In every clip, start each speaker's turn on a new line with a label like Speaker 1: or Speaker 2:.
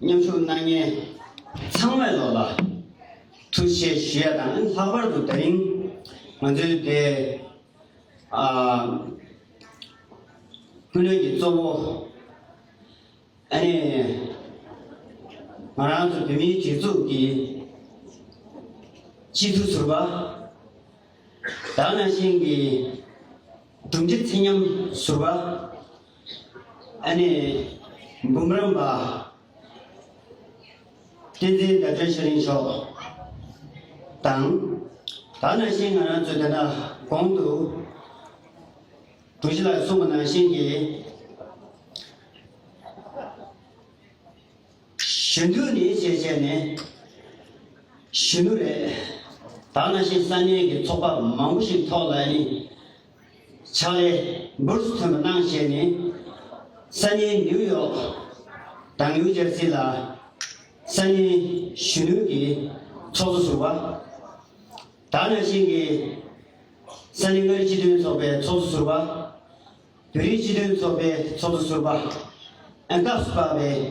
Speaker 1: མཉམ་ཞུགས་གནང་མཁན་ཚང་མས་ལོ་ལ་ཐུགས་ཞེ་ཞུ་ཡ་དང་ལྷག་པར་དུ་ད་རིང་ང་ཚོའི་སྡེ་སྐུལ་སློན་གྱི་གཙོ་བོ་ཨ་ནེ་ང་རང་ཚོ་བོད་མིའི་སྒྲིག་འཛུགས་ཀྱི་སྤྱི་འཐུས་ཟུར་པ་དག་ནང་བཞིན་གྱི་གྲུབ་འབྲི་ཚེ་ཉམས་ཟུར་པ། ཨ་ནེ། འབུམ་རམས་པ། བསྟན་འཛིན་ཟླ་སྒྲོན་ཤ་རིང་མཆོག་དང། ད་ནང་བཞིན་ང་རང་ཚོས་དེ་འདྲ་གོང་དུ་དྲུག་བཞི་ལ་གསུངས་པ་ནང་བཞིན་གྱི་གཞོན་ནུ་ནི་བྱས་བྱས་ནས་གཞོན་ནུ་རེད། ད་ནང་བཞིན་ས་གནས་ཀྱི་ཚོགས་པ་མང་པོ་ཞིག་ཐོག་ལ་ནི། ཕྱག་ལས་འབུར་སུ་ཐོན་པ་གནང་བཞེས་ནས། ས་གནས་ནིའུ་ཡོག་དང་ནིའུ་ཇར་སི་ལ་ས་གནས་གཞོན་ནུ་ཀྱི་ཚོགས་གཙོ་ཟུར་བ། དར་ནག་ཆེན་གྱི་ས་གནས་མངའ་རིས་སྤྱི་མཐུན་ཚོགས་པའི་ཚོགས་གཙོ་ཟུར་བ། བོད་རིགས་སྤྱི་མཐུན་ཚོགས་པའི་ཚོགས་གཙོ་ཟུར་བ། སྐབས་སུ་བབས་པའི།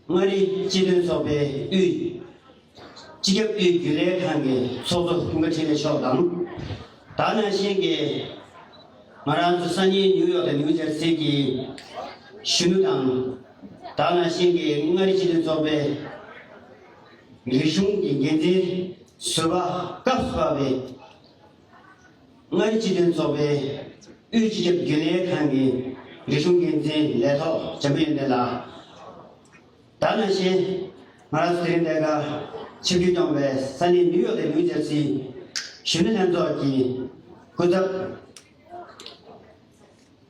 Speaker 1: མངའ་རིས་སྤྱི་མཐུན་ཚོགས་པའི་དབུས། སྤྱི་ཁྱབ་དབུས་རྒྱུན་ལས་ཁང་གི་ཚོགས་གཙོ་སྐུ་ངོ་ཁྲིན་ལེ་མཆོག་དང། དྭགས་ནང་བཞིན་གྱི་ང་རང་ཚོ་སང་ཉིན་ནིའུ་ཡོག་དང་ནིའུ་ཇར་སི་གྱི་གཞོན་ནུ་དང། དྭགས་ནང་བཞིན་གྱི་མངའ་རིས་སྤྱི་མཐུན་ཚོགས་པའི་རིག་གཞུང་གི་འགན་འཛིན་ཟུར་པ་སྐབས་བཞི་པ་བས། ལྔའི་སྤྱི་དོན་ཚོགས་པའི་དབུས་སྤྱི་ཁྱབ་རྒྱུན་ལས་ཁང་གི་རིག་གཞུང་འགན་འཛིན་ལས་ཐོག་ཇམ་ཡོན་ཏན་ལགས། ད་ནང་ཞིན་ཧྭ་ར་སི་རིམ་ལས་ཀ་ཆེ་བརྒྱུད་སྐྱོང་བའི་ས་གནས་ནིའུ་ཡོག་ལས་ཁུངས་ཆབ་སྲིད་གཞོན་ནུ་ལྷན་ཚོགས་ཀྱི་སྐུ་ཚབ།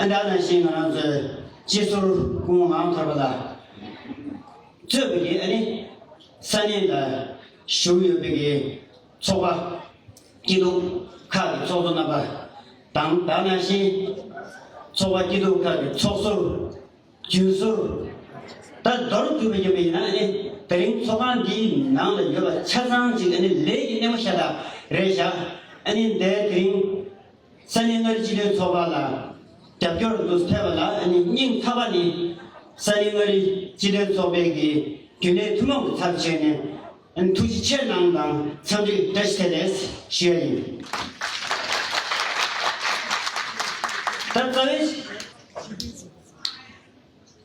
Speaker 1: ཨ་ཅག་ནང་བཞིན་ང་རང་ཚོའི་སྤྱི་ཟུར་སྐུ་ངོ་མང་ཐོར་པ་ལ་གཙོས་པ་ཡི་ཨ་ནི་ས་གནས་ལ་བཞུགས་ཡོད་པའི་གི་ཚོགས་པ་སྐྱིད་སྡུག་ཁག་གི་ཚོགས་གཙོ་རྣམ་པ་དང་བདག་ནང་བཞིན་ཚོགས་པ་སྐྱིད་སྡུག་ཁག་གི་ཚོགས་ཟུར་རྒྱུན་ཟུར་ད་མདོར་གྱུར་པ་ཡོད་པ་ཡིན་ན་ཨ་ནི་དེ་རིང་ཚོགས་ཁང་འདིའི་ནང་ལ་ཡོད་པ་ཆ་ཚང་ཅིག་ཨ་ནི་ལས་ཀྱི་སྣེ་མོ་ཤ་སྟག་རེད་བཞག་ཨ་ནི་འདའི་དེ་རིང། ས་གནས་མངའ་རིས་སྤྱི་མཐུན་ཚོགས་པ་ལ་རྒྱབ་སྐྱོར་འདུག་ཟེར་བ་ལ་སྙིང་ཐག་པ་ནི། ས་གནས་མངའ་རིས་སྤྱི་མཐུན་ཚོགས་པས་ཀྱི་རྒྱུན་ལས་ཐུན་མོང་གི་ཚབ་བྱས་ནས་ཐུགས་རྗེ་ཆེར་གནང་དང་འཚམས་འདྲི་བཀྲ་ཤིས་བདེ་ལེགས་ཞུ་ཡ་ཡིན། ད་རྩ་བའི།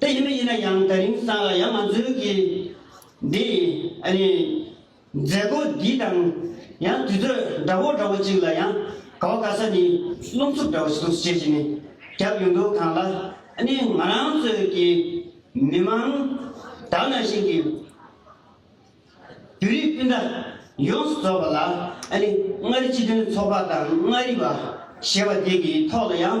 Speaker 1: དེ་ཡིན་མི་ཡིན་ན་ཡང་ད་རིང་སང་ལ་ཡ་མ་འཛོལ་གི། འདི་ཡིན་ཨ་ནི། མཛད་སྒོ་འདི་དང་ཡང་དུས་ཚོད་འདྲ་བོ་འདྲ་བོ་ཅིག་ལ་ཡང་ག་བ་ག་ས་ནི་རླུང་འཚུབ་འདྲ་བོ་ཞིག་འདུག་ཅེས་བྱས་ནས་རྒྱབ་ཡོང་འདུག་གང་ལ་ཨ་ནི་ང་རང་ཚོའི་གི་མི་མང་དག་ནང་བཞིན་གི། བོད་རིགས་སྤུན་ཟླ་ཡོངས་སུ་རྫོགས་པ་ལ་ཨ་ནི་མངའ་རིས་སྤྱི་མཐུན་ཚོགས་པ་དང་མངའ་རིས་པ་ཞེས་པ་དེ་གི་ཐོག་ལ་ཡང།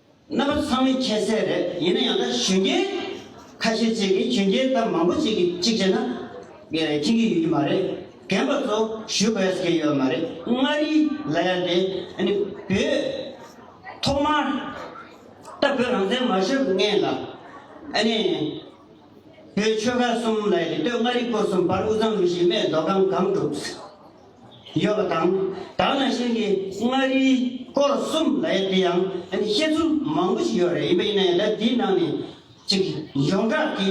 Speaker 1: རྣམ་པ་ཚང་མས་ཁྱད་བསད་རེད་ཡིན་ན་ཡང་ད་གཞོན་སྐྱེས་ཁ་ཤས་ཅིག་གིས་གཞོན་སྐྱེས་ད་མང་པོ་ཅིག་གིས་གཅིག་བྱས་ན། ངས་རེད་ཁྱེད་ཀྱིས་ཡོད་རྒྱུ་མ་རེད་རྒན་པ་ཚོ་ཞུ་བས་ཟེར་གྱི་ཡོད་མ་རེད་མངའ་རིས་ལ་ཡང་དེ་ནི་བོད། ཐོག་མར། ད་བོད་རང་བཙན་མ་ཤོར་སྔན་ལ། ཨ་ནི། བོད་ཆོལ་ཁ་གསུམ་ལ་ཡང་དེ་སྟོད་མངའ་རིས་སྐོར་གསུམ་བར་དབུ་གཙང་མི་ཞིག་རྨས་རྡོ་ཁང་སྒང་དྲུག། ཡོད་པ་དང། དག་ན་གཞིར་གྱི་མངའ་རིས་སྐོར་གསུམ་ལ་ཡང་དེ་ཡང་བཤད་ཚུལ་མང་པོ་ཞིག་ཡོད་རེད་ཡིན་པ་ཡིན་ན་ཡང་ལས་དེའི་ནང་ནས་ཅིག་ཡོངས་གྲགས་ཀྱི་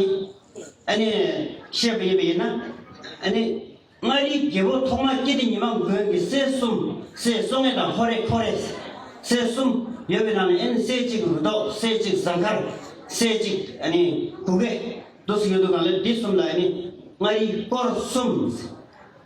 Speaker 1: བཤད་པ་ཡིན་པ་ཡིན་ན། མངའ་རིས་རྒྱལ་པོ་ཐོག་མ་སྐྱེས་དུས་ཉི་མ་མགོན་གྱི་སྲས་གསུམ་སྲས་བསོད་ངན་དང་ཧོ་རེ་ཁོ་རེ་སྲས་གསུམ་ཡོད་པའི་ནང་ནས་སྲས་གཅིག་རུ་ཏོག་སྲས་གཅིག་གཟའ་མཁར་སྲས་གཅིག་གུ་གེ་རྡོ་སོགས་ཡོད་འདུག་ལ་དེ་གསུམ་ལ་མངའ་རིས་སྐོར་གསུམ།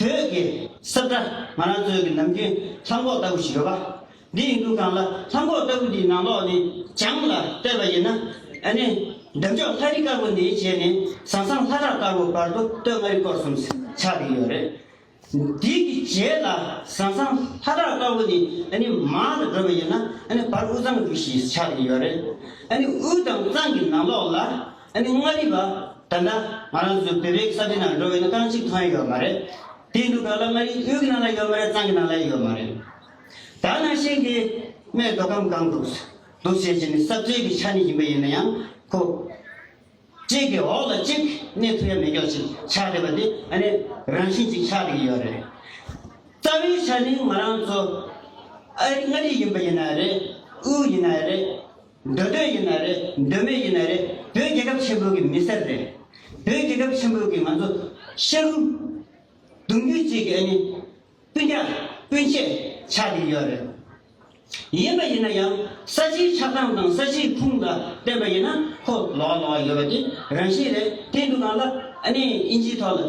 Speaker 1: བོད་ཀྱི་སྲབ་སྒྲ་ང་རང་ཚོའི་གི་ནམ་རྒྱུན་ལྷམ་གོག་ལྟ་བུ་ཞིག་ཡོད་པ་འདི་ཡིན་འདུག་གང་ལ་ལྷམ་གོག་ལྟ་བུ་འདིའི་ནང་ལོགས་ནས་བྱང་ལ་བལྟས་པ་ཡིན་ན་ཨ་ནི་འདབ་འཇོག་ལྷ་རི་དཀར་པོ་འདི་བྱས་ནས་ཟང་ཟང་ལྷ་བྲག་དཀར་པོ་བར་དུ་སྟོད་མངའ་རིས་སྐོར་གསུམ་ཆགས་ཀྱི་ཡོད་རེད། འདི་གི་རྗེས་ལ་ཟང་ཟང་ལྷ་བྲག་དཀར་པོ་འདི་ཨ་ནི་མང་ལ་བགྲོད་པ་ཡིན་ན་ཨ་ནི་བར་དབུས་གཙང་རི་ཞིག་ཆགས་ཀྱི་ཡོད་རེད། ཨ་ནི་དབུས་དང་གཙང་གི་ནང་ལོགས་ལ་ཨ་ནི་མངའ་རིས་པ། ད་ལྟ་ང་རང་ཚོ་བོད་པའི་ས་དེ་ནང་འགྲོ་བའི་ན་ཐང་གཅིག་ཐང་ཡོད་མ་རེད། དེའི་འདུག་ག་ལ་མངའ་རིས་དབུས་ཀྱི་ནང་ལ་ཡོད་མ་རེད་གཙང་གི་ནང་ལ་ཡོད་མ་རེད། ད་ནང་བཞིན་གྱི་སྨད་མདོ་ཁམས་སྒང་དུ། འདུག་བྱེད་ཀྱི་ནི་གསབ་རྩོད་ཀྱི་ཆ་ནས་ཡིན་པ་ཡིན་ན་ཡང་ཁོ། གཅིག་གི་འོག་ལ་གཅིག་གནས་ཐུབ་ཡ་མེད་ཀྱོག་ཅིག་ཆགས་བསྡད་པ་དེ་ཨ་ནི་རང་བཞིན་གཅིག་ཆགས་བསྡད་ཀྱི་ཡོད་རེད། རྩ་བའི་ཆ་ནས་ང་རང་ཚོ་ཨ་རི་མངའ་རིས་ཡིན་པ་ཡིན་ན་ཡང་རེད་དབུས་ཡིན་ན་ཡང་རེད། འདོད་འདོད་ཡིན་ན་རེད་འདོད་མེད་ཡིན་ན་རེད་བོད་རྒྱལ་ཁབ་ཆེན་པོའི་གི་མི་སེར་རེད། བོད་རྒྱལ་ཁབ་ཆེན་པོའི་གི་ང་ཚོ་ཤ་རུ། གདུང་རྒྱུད་གཅིག་གི་ཨ་ནི་སྤུན་ཟླ་སྤུན་མཆེད་ཆགས་ཀྱི་ཡོད་རེད། ཡིན་པ་ཡིན་ན་ཡང་ས་ཆིའི་ཆགས་སྟངས་དང་ས་ཆིའི་ཁུངས་ལ་བརྟེན་པ་ཡིན་ན་ཁོ་ལོག་ལོག་ཡོད་པ་དེ་རང་བཞིན་རེད་དེ་འདུག་གང་ལ་ཨ་ནི་དབྱིན་ཇིའི་ཐོག་ལ།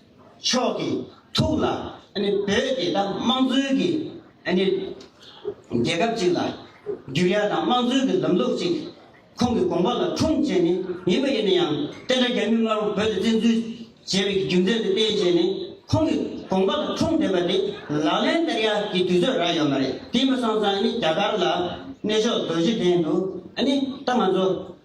Speaker 1: མཆོག་གི་ཐུགས་ལ་བོད་ཀྱི་དམངས་གཙོའི་གི་རྒྱལ་ཁབ་ཅིག་ལ་འགྱུར་ཡ་དང་དམངས་གཙོའི་གི་ལམ་ལུགས་ཅིག་ཁོང་གི་དགོངས་པ་ལ་འཁྲུངས་བྱས་ནི་ཡིན་པ་ཡིན་ན་ཡང་བསྟན་དགྲ་རྒྱ་མིས་སྔ་རོང་བོད་དུ་བཙན་འཛུལ་བྱས་པའི་གི་རྒྱུ་མཚན་དེ་བསྟན་བྱས་ནི་ཁོང་གི་དགོངས་པ་ལ་འཁྲུངས་བསྡད་པ་དེ་ལག་ལེན་བསྟར་ཡ་གི་དུས་ཚོད་རག་ཡོད་མ་རེད་དེ་མི་སང་ཙང་རྒྱ་གར་ལ་གནས་མཆོག་རྡོ་རྗེ་གདན་དུ་ད་ང་ཚོ།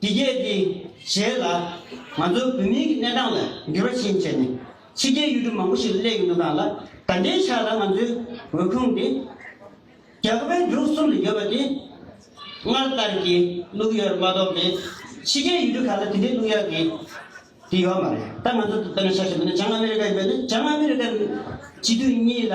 Speaker 1: འདི་སྐད་དེ་བྱས་ལ། ང་ཚོའི་བོད་མིའི་གི་གནས་སྟངས་ལ་འགྱུར་བ་ཆེན་བྱས་ནས། ཕྱི་རྒྱལ་ཡུལ་གྲུ་མང་པོ་ཞིག་ལ་སླེབས་ཡོད་འདུག་གང་ལ་ད་འདྲའི་ཆ་ལ་ང་ཚོའི་འོས་ཁུངས་དེ། རྒྱ་གར་བའི་འབྲུག་གསུམ་ལ་ཡོད་པ་དེ། སྔར་ལྟར་གྱི་བླུགས་ཡོད་མ་གཏོགས་ཏེ། ཕྱི་རྒྱལ་ཡུལ་གྲུ་ཁག་ལ་དེ་འདྲའི་བླུགས་ཡག་གི་དེ་ཡོད་མ་རེད། ད་ང་ཚོ་དེ་ལྟར་ན་ཆ་ཞེས་པ་ནི་བྱང་ཨ་མེ་རི་ཀ་ཡིན་པས་ན་བྱང་ཨ་མེ་རི་ཀ་ནི་སྤྱི་འཐུས་གཉིས་ལ།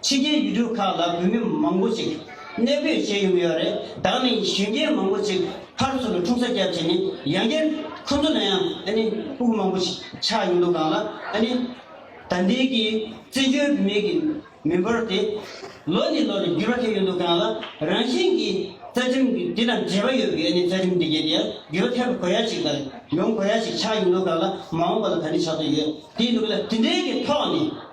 Speaker 1: ཕྱི་རྒྱལ་ཡུལ་གྲུ་ཁག་ལ་བོད་མི་མང་པོ་ཞིག་གནས་སྤོས་བྱས་ཡོང་གི་ཡོད་རེད་ད་ནི་གཞོན་སྐྱེས་མང་པོ་ཞིག་ཕར་ཚུར་ལ་འཁྲུངས་ས་བསྐྱར་བྱས་ནས་ཡང་བསྐྱར་ཁོ་ཚོ་ལ་ཡང་ཨ་ནི་དབུགས་མང་པོ་ཞིག་ཆགས་ཡོང་དུས་གང་ལ་ཨ་ནི་ད་ལྟའི་གི་བཙན་བྱོལ་བོད་མི་གི་མི་འབོར་དེ་ལོ་ནས་ལོ་རེ་འགྱུར་བ་ཐེབས་ཡོང་དུས་གང་ལ་རང་བཞིན་གི་རྩ་ཁྲིམས་གི་དེ་དང་འབྲེལ་བ་ཡོད་པའི་ཨ་ནི་རྩ་ཁྲིམས་དེ་གའི་དེ་ཡང་འགྱུར་བ་ཐེབས་དགོས་ཡ་ཞིག་དང་ཡོང་དགོས་ཡ་ཞིག་ཆགས་ཡོང་དུས་གང་ལ་མ་འོངས་པ་ལ་ད་ནི་ཆགས་ཐུབ་ཡོད་དེ་འདུག་གི་ལ་དེ་འདྲའི་གི་ཐོག་ནས།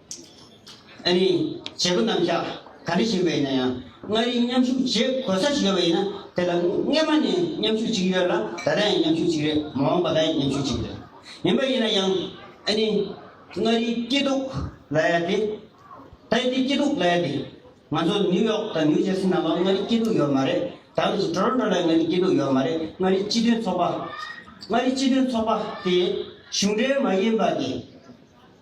Speaker 1: ཨ་ནི། བྱེད་པོ་རྣམས་ཤ་ག་འདྲ་བཞིན་པས་ན་ཡང་མངའ་རིས་མཉམ་ཞུགས་བྱེད་དགོས་ས་ཞིག་ཡོད་པ་ཡིན་ན་དེ་ལ་སྔན་མ་ནས་མཉམ་ཞུགས་བྱེད་ཀྱི་ཡོད་ལ་ད་ལྟ་ཡང་མཉམ་ཞུགས་བྱེད་ཀྱི་རེད་མ་འོངས་པ་ད་ཡང་མཉམ་ཞུགས་བྱེད་ཀྱི་རེད། ཡིན་པ་ཡིན་ན་ཡང་ཨ་ནི། མངའ་རིས་སྐྱིད་སྡུག་ལ་ཡ་དེ། ད་ཡ་དེ་སྐྱིད་སྡུག་ལ་ཡ་དེ། ང་ཚོ་ནིའུ་ཡོག་དང་ནིའུ་ཇར་སི་ནང་ལོགས་མངའ་རིས་སྐྱིད་སྡུག་ཡོད་མ་རེད་ད་ལོ་ཞིག Toronto ལ་ཡང་མངའ་རིས་སྐྱིད་སྡུག་ཡོད་མ་རེད་མངའ་རིས་སྤྱི་མཐུན་ཚོགས་པ། མངའ་རིས་སྤྱི་མཐུན་ཚོགས་པ་དེ་གཞུང་འབྲེལ་མ་ཡིན་པ་དེ།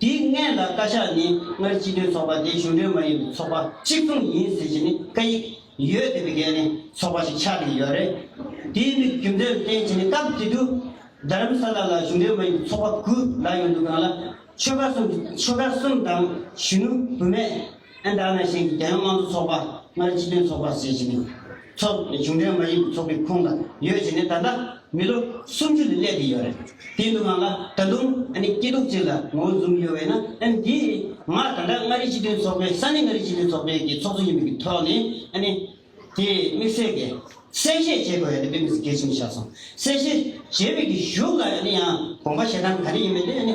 Speaker 1: དེའི་མངལ་ལ་བཀའ་ཤག་ནས་སྔར་སྤྱི་མཐུན་ཚོགས་པ་དེ་གཞུང་འབྲེལ་མ་ཡིན་པའི་ཚོགས་པ་གཅིག་མཚུངས་ཡིན་ཟེར་གྱི་ནི་བཀའ་ཡིག་ཡོད་དེ་དེ་གའི་ནི་ཚོགས་པ་ཞིག་ཆགས་ཀྱི་ཡོད་རེད། དེའི་མི་རྒྱུ་མཚན་ལ་བརྟེན་གྱི་ནི་སྐབས་དེ་དུས་རྡ་རམ་ས་ལ་ལ་གཞུང་འབྲེལ་མ་ཡིན་པའི་ཚོགས་པ་དགུ་ལ་ཡོང་འདུག་གང་ལ་ཆོལ་ཁ་གསུམ་ཆོལ་ཁ་གསུམ་དང་གཞོན་ནུ་བུད་མེད། ཨན་ཏར་ནཱ་ཤན་གྱི་རྒྱལ་ཡོངས་དམངས་གཙོ་ཚོགས་པ་སྔར་སྤྱི་མཐུན་ཚོགས་པ་ཟེར་བཞིན་ཡོད། ཚོགས་འདུ་དེ་གཞུང་འབྲེལ་མ་ཡིན་པའི་ཚོགས་པའི་ཁོངས་ལ་ཡོད་ཅེས་ནས་ད་ལྟ་མི་ལོ་སུམ་ཅུ་ལས་བསླེབས་ཀྱི་ཡོད་རེད། དེའི་འདུག་སྔངས་ལ་ད་དུང་ཨ་ནི་སྐྱིད་སྡུག་ཅིག་ལ་ངོ་བོ་འཛུམ་ཡོད་བས་ན་ཨ་ནི་དེས་ང་ད་ལྟ་མངའ་རིས་སྤྱི་མཐུན་ཚོགས་པའི་ས་གནས་མངའ་རིས་སྤྱི་མཐུན་ཚོགས་པའི་གི་ཚོགས་གཙོ་ཡིན་མིན་གྱི་ཐོག་ནས་ཨ་ནི་དེས་དམིགས་བསལ་གྱི་གསལ་བཤད་བྱེད་དགོས་ཡ་དེ་དཔེ་མི་སྲིད་གལ་ཆེན་པོ་བཞག་སོང་གསལ་བཤད་བྱེད་པའི་གི་གཞུག་ལ་ཡང་དགོངས་པ་བཞེས་སྟངས་ག་རེ་ཡིན་མིན་དེ་ཨ་ནི།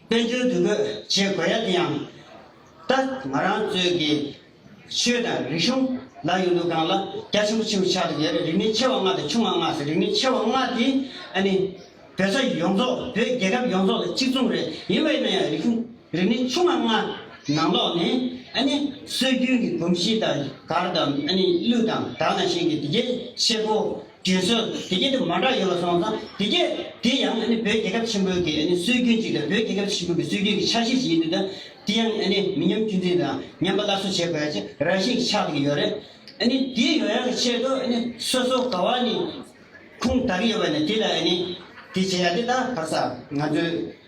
Speaker 1: བསྟན་འགྲོའི་འདུ་འགོད་བྱེད་དགོས་ཡ་དེ་ཡང་ད་ང་རང་ཚོའི་གི་ཆོས་དང་རིག་གཞུང་ལ་ཡོད་འདུག་གང་ལ་རྒྱ་ཆེན་པོ་ཆེན་པོ་ཆགས་འདུག་ཡོད་རེད་རིག་གནས་ཆེ་བ་ལྔ་དང་ཆུང་བ་ལྔ་ཟེར་རིག་གནས་ཆེ་བ་ལྔ་དེ་ཨ་ནི་བོད་ས་ཡོངས་རྫོགས་བོད་རྒྱལ་ཁབ་ཡོངས་རྫོགས་ལ་གཅིག་མཚུངས་རེད་ཡིན་བས་ན་ཡང་རིག་གཞུང་རིག་གནས་ཆུང་བ་ལྔ་ནང་ལོགས་ནས་ཨ་ནི་སྲོལ་རྒྱུན་གྱི་གོམས་གཤིས་དང་གར་དང་ཨ་ནི་གླུ་དང་དག་ན་གཞན་གྱི་དེ་གའི་བཤད་པོ། དྲིན་གཟོ། དེ་རྐྱེན་དུ་མ་འདྲ་ཡོད་པར་སོང་ཙང་དེ་རྐྱེན་དེ་ཡང་བོད་རྒྱལ་ཁབ་ཆེན་པོའི་གི་སྲོལ་རྒྱུན་ཅིག་དང་བོད་རྒྱལ་ཁབ་ཆེན་པོའི་གི་སྲོལ་རྒྱུན་གི་ཆ་ཤས་ཤིག་ཡིན་དུས་དང་དེ་ཡང་མི་ཉམས་རྒྱུན་འཛིན་དང་ཉམས་པ་སླར་གསོ་བྱེད་དགོས་ཅེས་རང་བཞིན་གྱིས་ཆགས་འདུག་གི་ཡོད་རེད། དེའི་ཡོ་ཡང་གི་ཆེད་དུ་སོ་སོ་ག་བ་ནས་ཁུངས་དག་གི་ཡོད་པ་ནས་དེ་ལ་དེ་བྱེད་ཡ་དེ་ལྟ་བར་ས་ང་ཚོའི།